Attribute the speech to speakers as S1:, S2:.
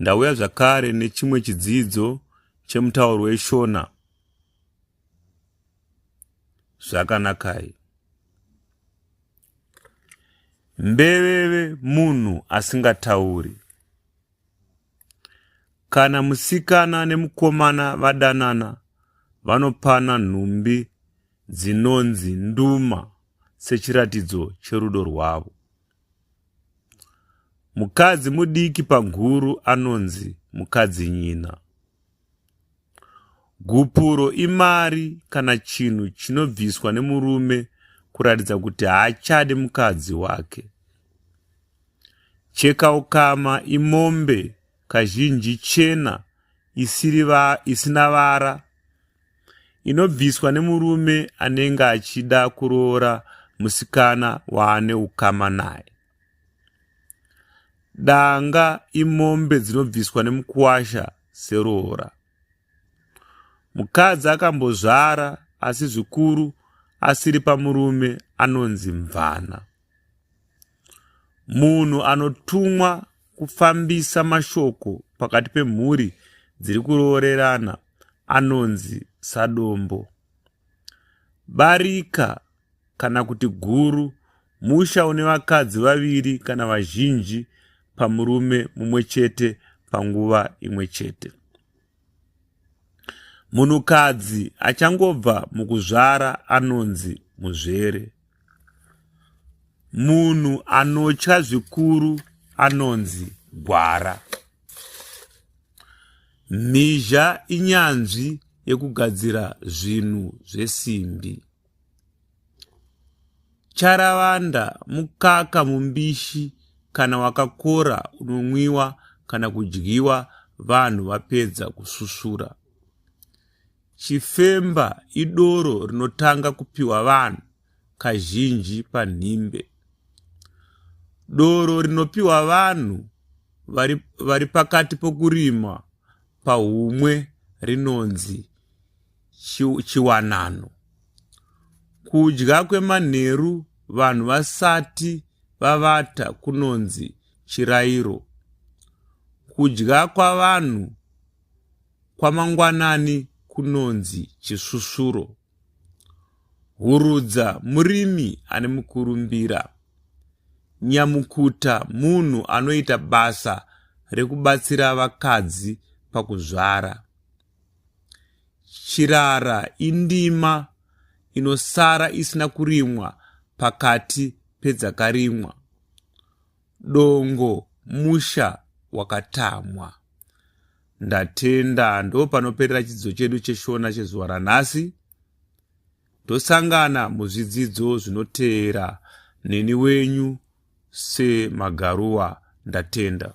S1: Ndauya zvakare nechimwe chidzidzo chemutauro weShona. Zvakanakai. Mbeveve munhu asingatauri. Kana musikana nemukomana vadanana vanopana nhumbi dzinonzi nduma sechiratidzo cherudo rwavo. Mukadzi mudiki panguru anonzi mukadzi nyina. Gupuro imari kana chinhu chinobviswa nemurume kuratidza kuti haachade mukadzi wake. Chekaukama imombe kazhinji chena isina vara inobviswa nemurume anenge achida kuroora musikana waane ukama naye danga imombe dzinobviswa nemukuwasha seroora mukadzi akambozvara asi zvikuru asiri pamurume anonzi mvana Munhu anotumwa kufambisa mashoko pakati pemhuri dziri kuroorerana anonzi sadombo. Barika kana kuti guru musha une vakadzi vaviri kana vazhinji pamurume mumwe chete panguva imwe chete. Munhukadzi achangobva mukuzvara anonzi muzvere. Munhu anotya zvikuru anonzi gwara. Mhizha inyanzvi yekugadzira zvinhu zvesimbi. Charavanda mukaka mumbishi kana wakakora unonwiwa kana kudyiwa vanhu vapedza kususura. Chifemba idoro rinotanga kupiwa vanhu kazhinji panhimbe. Doro rinopiwa vanhu vari, vari pakati pokurima pahumwe rinonzi chiwanano. Kudya kwemanheru vanhu vasati vavata kunonzi chirairo. Kudya kwavanhu kwamangwanani kunonzi chisvusvuro. Hurudza murimi ane mukurumbira. Nyamukuta munhu anoita basa rekubatsira vakadzi pakuzvara. Chirara indima inosara isina kurimwa pakati pedzakarimwa. Dongo musha wakatamwa. Ndatenda ndo panoperera chidzidzo chedu cheshona chezuva ranhasi. Tosangana muzvidzidzo zvinoteera neni wenyu semagaruwa ndatenda.